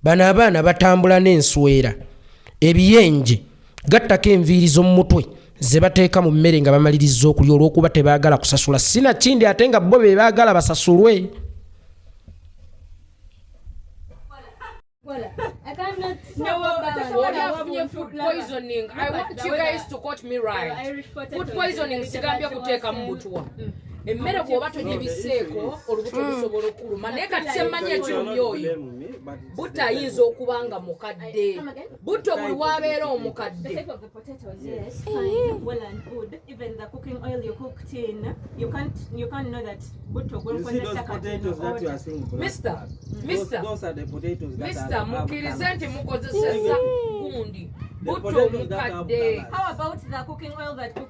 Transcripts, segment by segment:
bano abaana batambula n'enswera ebiyenje gattako enviiri z'omu mutwe ze bateeka mu mmere nga bamaliriza okulya olw'okuba tebaagala kusasula sinakindi ate nga bo be baagala basasulwe poisoning sigambye kuteeka mu butwa emmere bwoba togibiseeko olubuto mm. lusobola okuluma naye kati kyemmanyi ekirumya oyo butto ayinza okuba nga mukadde butto buli wabeera omukadde mista mukkirize nti mukozeseza gundi butto omukadde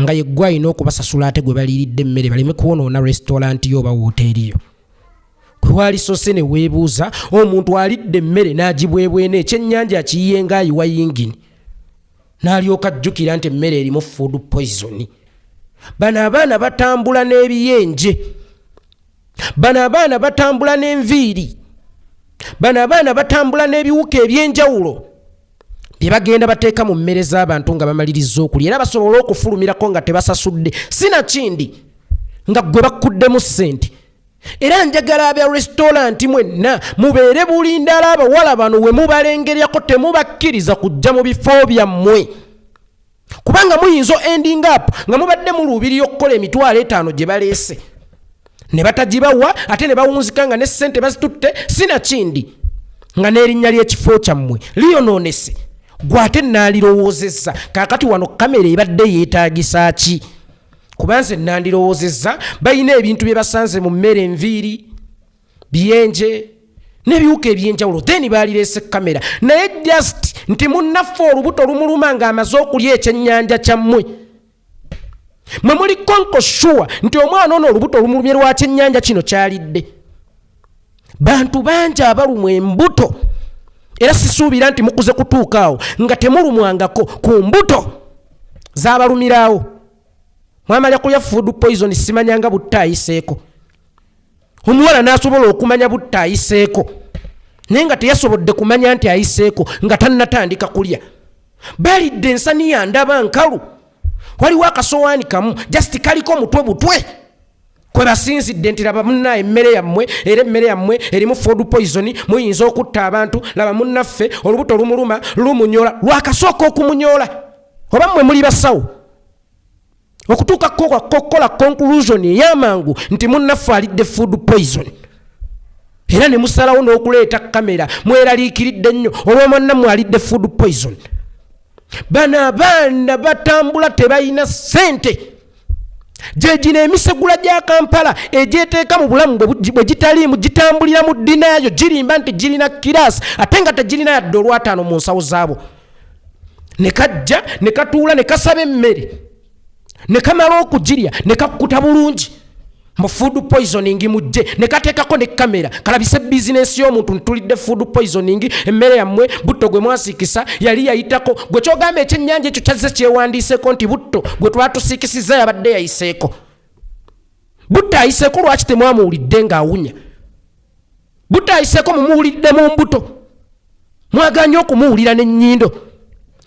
nga yeggwe alina okubasasula ate gwe baliiridde emmere baleme kwonoona resitolanti yo oba wooteeri yo kwewalisose ne weebuuza omuntu alidde emmere n'agibwebwena ekyennyanja akiyiye ngaayiwa yingini n'alyoka ajjukira nti emmere erimu food poisoni bano abaana batambula n'ebiyenje bano abaana batambula n'enviiri bano abaana batambula n'ebiwuka eby'enjawulo bye bagenda bateeka mu mmere z'abantu nga bamaliriza okulya era basobole okufulumirako nga tebasasudde sinakindi nga gwe bakkuddemu ssente era njagala abya resitoranti mwenna mubeere bulindala abawala bano we mubalengeryako temubakkiriza kujja mu bifo byammwe kubanga muyinza ending up nga mubadde muluubirira okukola emitwalo etaano gye baleese ne batagibawa ate ne bawunzika nga ne ssente bazitutte sinakindi nga n'erinnya ly'ekifo kyammwe liyonoonese gwe ate nandirowoozezza kaakati wano kamera ebadde yeetaagisa ki kuba nze nandirowoozezza balina ebintu bye basanze mu mmere enviiri biyenje nebiwuka ebyenjawulo then baalirese kamera naye just nti munnaffe olubuto lumuluma ng'amaze okulya ekyennyanja kyammwe mwe muli konko shuwa nti omwana ono olubuto lumulumye lwa kyennyanja kino kyalidde bantu bangi abalumwa embuto era sisuubira nti mukuze kutuukaawo nga temulumwangako ku mbuto zabalumiraawo mwamala kulya food poison simanyanga buttayiseeko omuwala n'asobola okumanya butta ayiseeko naye nga teyasobodde kumanya nti ayiseeko nga tannatandika kulya balidde ensaniya ndaba nkalu waliwo akasowaani kamu just kaliko mutwe butwe kwe basinzidde nti laba munna emmere yammwe era emmere yammwe erimu ford poison muyinza okutta abantu laba munnaffe olubuto lumuluma lumunyola lwakasooka okumunyola oba mmwe muli basawo okutuuka kukola conclusion eyamangu nti munnaffe alidde food poison era ne musalawo n'okuleeta kamera mweraliikiridde nnyo olwomwannammwe alidde food poison bano abaana batambula tebalina ssente gyegino emisegula gya kampala egyeteeka mu bulamu bwe gitaliimu gitambulira mu ddinaayo girimba nti girina kiraasi ate nga tegirina yadde olwataano mu nsawo zaabo ne kajja ne katuula ne kasaba emmere ne kamala okugirya ne kakkuta bulungi mu food poisoning mujje ne kateekako ne kamera kalabise bizinensi y'omuntu ntulidde food poisoning emmere yammwe butto gwe mwasiikisa yali yayitako gwe kyogamba ekyennyanja ekyo kyazze kyewandiiseko nti butto gwe twatusiikisizza yabadde yayiseeko butto ayiseeko lwaki temwamuwulidde ng'awunya butayiseko mumuwulidde mu mbuto mwaganye okumuwulira nenyindo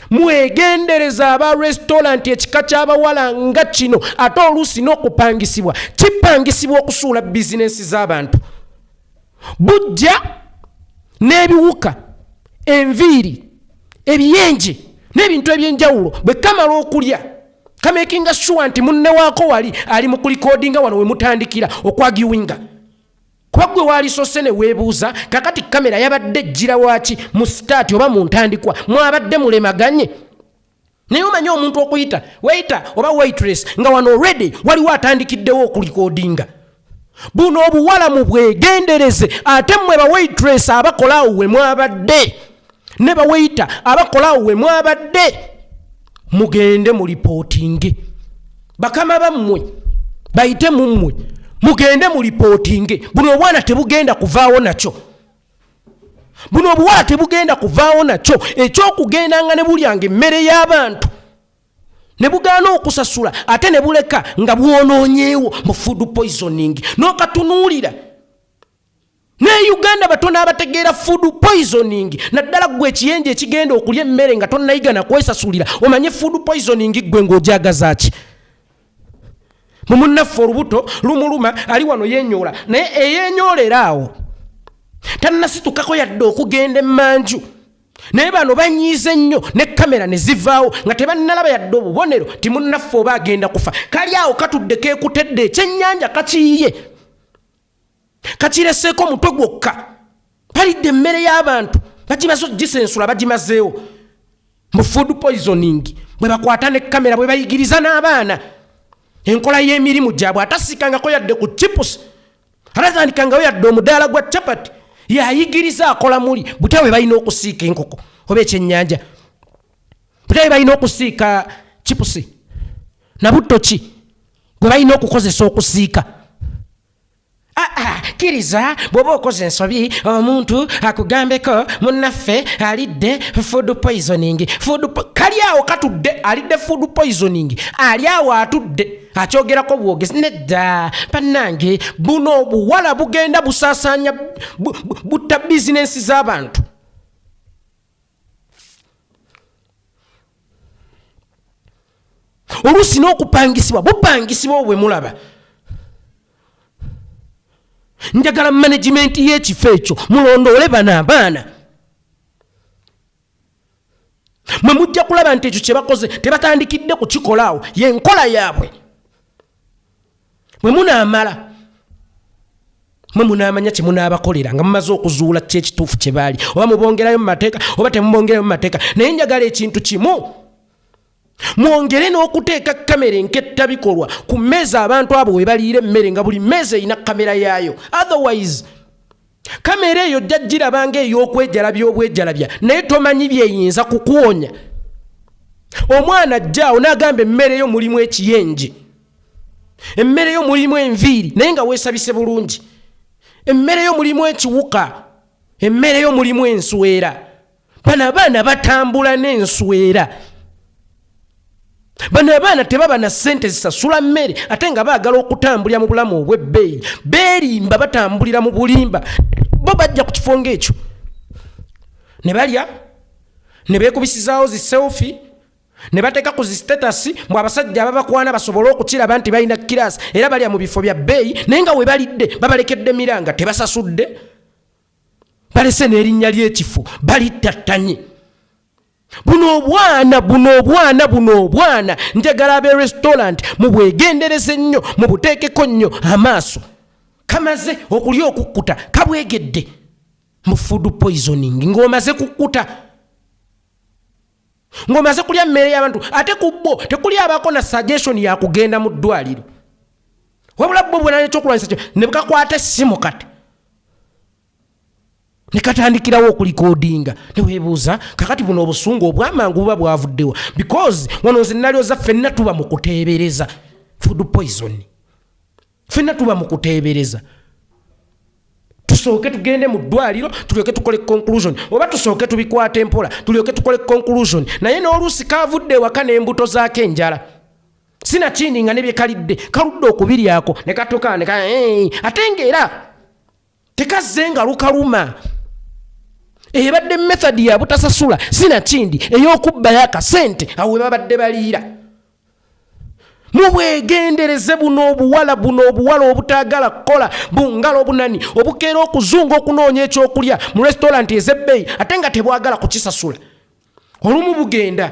mwegendereza aba restaurant ekika kyabawala nga kino ate oluusi n'okupangisibwa kipangisibwa okusuula bizinensi z'abantu bujja n'ebiwuka enviiri ebiyenje n'ebintu ebyenjawulo bwe kamala okulya kamakinga sure nti munnewaako wali ali mu kulikodinga wano we mutandikira okwagiwinga kuba gwe waalisose ne weebuuza kakati kamera yabadde ejjira waaki mu sitaati oba mu ntandikwa mwabadde mulemaganye naye omanyi omuntu okuyita weyita oba waitress nga wano redi waliwo atandikiddewo okulikodinga buno obuwala mu bwegendereze ate mmwe bawaitress abakolaawo we mwabadde ne baweyita abakola awo we mwabadde mugende mu lipootinge bakama bammwe bayite mu mmwe mugende mu lipootinge buno obwana tebugenda kuvaawo nakyo buno obuwala tebugenda kuvaawo nakyo ekyokugenda nga ne bulyanga emmere y'abantu ne bugaana okusasula ate ne buleka nga bwonoonyeewo mu food poisoning n'okatunuulira no ne uganda batono abategeera food poisoning naddala gwe ekiyenje ekigenda okulya emmere nga tonayiga nakwesasulira omanye food poisoning gwe ngaojagazaki mumunnaffe olubuto lumuluma ali wano yenyoola naye eyenyoolera awo tannasitukako yadde okugenda emanju naye bano banyiiza ennyo ne kamera ne zivaawo nga tebannalaba yadde obubonero timunnaffe oba agenda kufa kali awo katudde kekutedde ekyennyanja kakiyiye kakireseeko omutwe gwokka palidde emmere y'abantu bagimaze ogisensula bagimazeewo mu food poisoning bwe bakwata ne kamera bwe bayigiriza n'abaana enkola y'emirimu gyabwe atasiikangako yadde ku chipusi atatandikangao yadde omudaala gwa chapati yayigiriza akola muli butya bwe balina okusiika enkoko oba ekyennyanja butya bwe balina okusiika chipusi nabutto ki gwe balina okukozesa okusiika ah, ah, kiriza bw'oba okoze ensobi omuntu akugambeko munnaffe alidde food poisoning food kali awo katudde alidde food poisoning ali awo atudde akyogerako bwogezi nedda bannange buno obuwala bugenda busaasaanya butta bizinensi z'abantu oluusi n'okupangisibwa bupangisibwa obwe mulaba njagala managimenti y'ekifo ekyo mulondoole bano abaana mwe mujja kulaba nti ekyo kye bakoze tebatandikidde kukikola awo yenkola yaabwe mwe munaamala mwe munaamanya kye munaabakolera nga mumaze okuzuula ki ekituufu kye baali oba mubongerayo mu mateeka oba temubongerayo mu mateeka naye njagala ekintu kimu mwongere n'okuteeka kamera enketta bikolwa ku mmeeza abantu abo we baliira emmere nga buli mmeeza erina kamera yaayo otherwise kamera eyo jja girabanga ey'okwejalabya obwejalabya naye tomanyi byeyinza kukuwonya omwana jjaawo n'agamba emmere yo mulimu ekiyenje emmere yo mulimu enviiri naye nga weesabise bulungi emmere yo mulimu ekiwuka emmere yo mulimu enswera bano abaana batambula n'enswera bano abaana tebaba na ssente zisasula mmere ate nga baagala okutambulira mu bulamu obw'ebbeeyi beerimba batambulira mu bulimba bo bajja ku kifo ng'ekyo ne balya ne beekubisizaawo zi selfi ne bateeka ku zi sitatasi mbu abasajja ababakwana basobole okukiraba nti balina kiraasi era balya mu bifo bya bbeeyi naye nga we balidde babalekedde miranga tebasasudde balese n'erinnya ly'ekifo balittattanye buno obwana buno obwana buno obwana njagala abe restaurant mubwegendereze nnyo mubuteekeko nnyo amaaso kamaze okulya okukkuta kabwegedde mu food poisoning ng'omaze kukkuta ng'omaze kulya mmere y'abantu ate ku bo tekuli abaako na suggestion ya kugenda mu ddwaliro wabula bo bwena ekyokulwanyisa kyo ne bkakwata essimu kati ne katandikirawo okulikodinga ne weebuuza kakati buno obusungu obwamangu buba bwavuddewa because wano nze nalyoza ffenna tuba mu kuteebereza food poison fenna tuba mu kuteebereza tusooke tugende mu ddwaliro tulyoke tukole conclusion oba tusooke tubikwata empola tulyoke tukole conclusion naye n'oluusi kaavudde ewaka n'embuto zaako enjala sinakindi nga nebyekalidde kaludde okubiryako ne katoka neka ate ngaera tekazze nga lukaluma ebadde method ya butasasula sinakindi ey'okubbayo akasente awo webabadde baliira mubwegendereze buno obuwala buno obuwala obutaagala kukola bungalo obunani obukeera okuzunga okunoonya ekyokulya mu restauranti ezebbeeyi ate nga tebwagala kukisasula olumu bugenda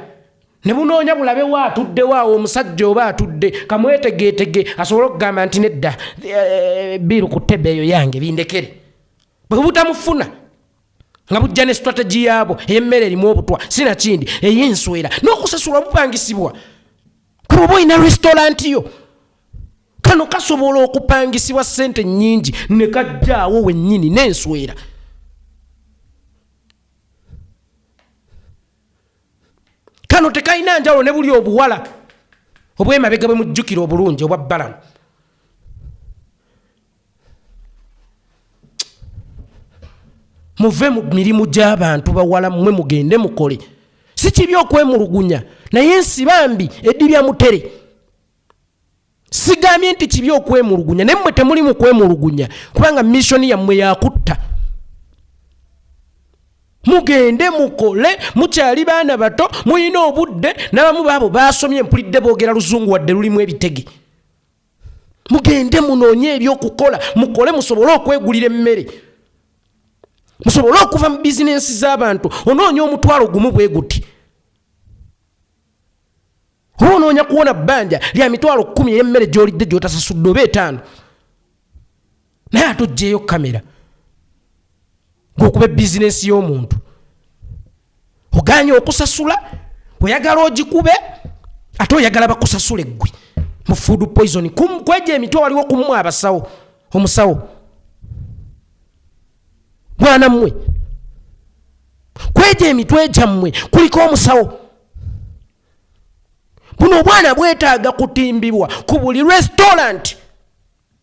ne bunoonya bulabe wa atuddewo awo omusajja oba atudde kamwetegeetege asobole okugamba nti nedda eh, biiru ku tebe eyo yange bindekere bwe butamufuna nga bujja ne strategy yaabwo ey'emmere erimu obutwa sinakindi ey'enswera n'okusasulwa bupangisibwa kuba oba olina restaurant yo kano kasobola okupangisibwa ssente nnyingi ne kajjaawo wennyini n'enswera kano tekalina njawulo ne buli obuwala obwemabega bwe mujjukira obulungi obwa balamu muve mu mirimu gy'abantu bawala mwe mugende mukole si kibi okwemulugunya naye ensi bambi eddi bya mutere sigambye nti kibi okwemulugunya naye mmwe temuli mu kwemulugunya kubanga missoni yammwe yakutta mugende mukole mukyali baana bato mulina obudde n'abamu baabo baasomye mpulidde boogera luzungu wadde lulimu ebitege mugende munoonye ebyokukola mukole musobole okwegulira emmere musobole okuva mu bizinensi z'abantu onoonya omutwalo gumu bwe guti oba onoonya kuwona bbanja lya mitwalo kkumi ey'emmere gy'olidde gy'otasasudde oba etaano naye ate ojjeeyo kamera ngaokuba ebizinesi y'omuntu oganye okusasula oyagala ogikube ate oyagala bakusasula eggwe mu food poison kwejo emitwe waliwo kumumwe abasawo omusawo mwana mmwe kwejo emitwe gyammwe kuliko omusawo buno obwana bwetaaga kutimbibwa ku buli restaurant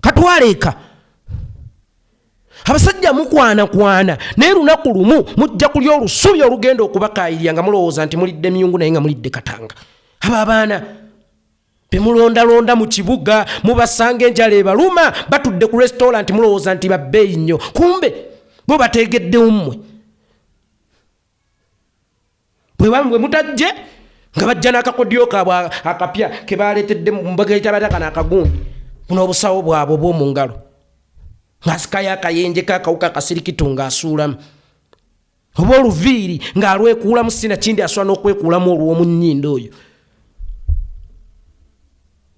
katwaleeka abasajja mukwanakwana naye lunaku lumu mujja kulya olusubi olugenda okubakayirya nga mulowooza nti mulidde miyungu naye nga mulidde katanga abo abaana bemulondalonda mu kibuga mubasanga enjala ebaluma batudde ku restauranti mulowooza nti babbeeyi nnyo kumbe bo bateegeddewo mmwe bwebamwe mutajje nga bajja n'akakodyo kaabwe akapya ke baaleetedde mbagaita batakana akagundi buno obusawo bwabwe obw'omu ngalo ng'asikayo akayenje kakawuka akasirikitu ng'asuulamu oba oluviiri ng'alwekuulamu sina kindi asobola n'okwekuulamu olw'omu nnyindo oyo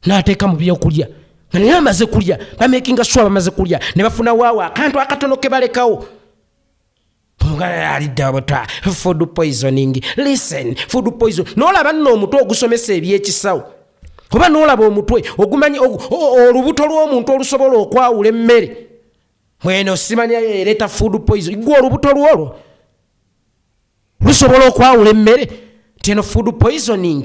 n'ateeka mu byokulya nga naye amaze kulya bamakinga swa bamaze kulya ne bafuna waawo akantu akatono ke balekawo aliddabuta food poisoning listen food poison nolaba nno omutwe ogusomesa ebyekisawo oba nolaba omutwe ogumanyi olubuto lw'omuntu olusobola okwawula emmere mweno simanyayo ereeta food poison gwe olubuto lwolwo lusobola okwawula emmere nti eno food poisoning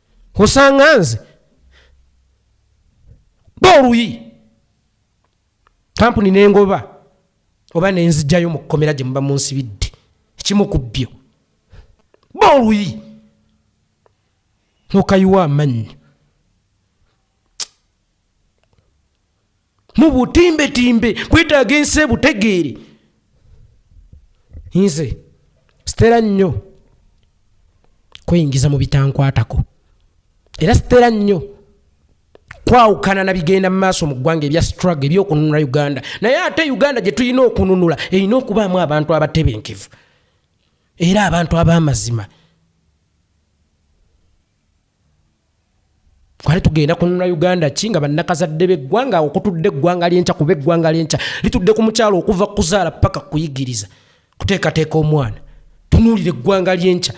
osanga nze boluyi kampuni nengoba oba nenzijayo mu kkomera gye muba munsibidde ekimu ku byo ba oluyi nokayiwa amannyi mu butimbetimbe kwetaaga ensi ebutegeere nze sitera nnyo kweyingiza mu bitankwatako era sitera nnyo kwawukana na bigenda mu maaso mu ggwanga ebya strugg ebyokununula uganda naye ate uganda gye tulina okununula erina okubaamu abantu abatebenkevu era abantu ab'amazima kwali tugenda kununula uganda ki nga bannakazadde beggwanga awo kutudde eggwanga lyenkya kuba eggwanga lyenkya litudde ku mukyalo okuva kuzaala paka kuyigiriza kuteekateeka omwana tunuulira eggwanga lyenkya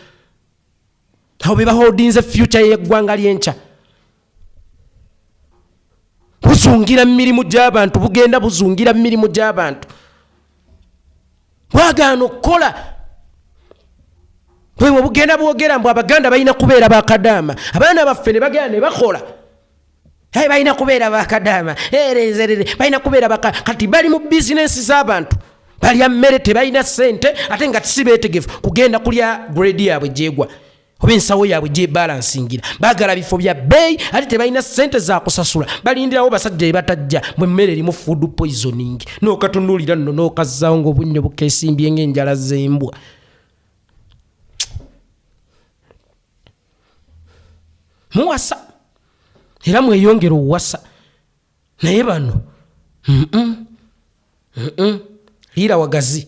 awo be baholdinze fyuca yeggwanga lyenkya buzungira mu mirimu gy'abantu bugenda buzungira mu mirimu gy'abantu bwagaana okukola bwebwe bugenda bwogera mbu abaganda balina kubeera bakadaama abaana baffe nebagenda nebakola aye balina kubeera bakadaama erezerere eh, balina kubeera baka kati bali mu bizinensi z'abantu balya mmere tebalina ssente ate nga tisi beetegefu kugenda kulya gredi yaabwe gyegwa oba ensawo yaabwe gyebalansingira bagala bifo bya bbeeyi ate tebalina ssente zakusasula balindirawo basajja ebatajja mu emmere erimu food poisoning nokatunulira nno nokazzaawo ngaobunnyo bukesimbye ngaenjala zembwa muwasa era mweyongera owasa naye bano liira wagazi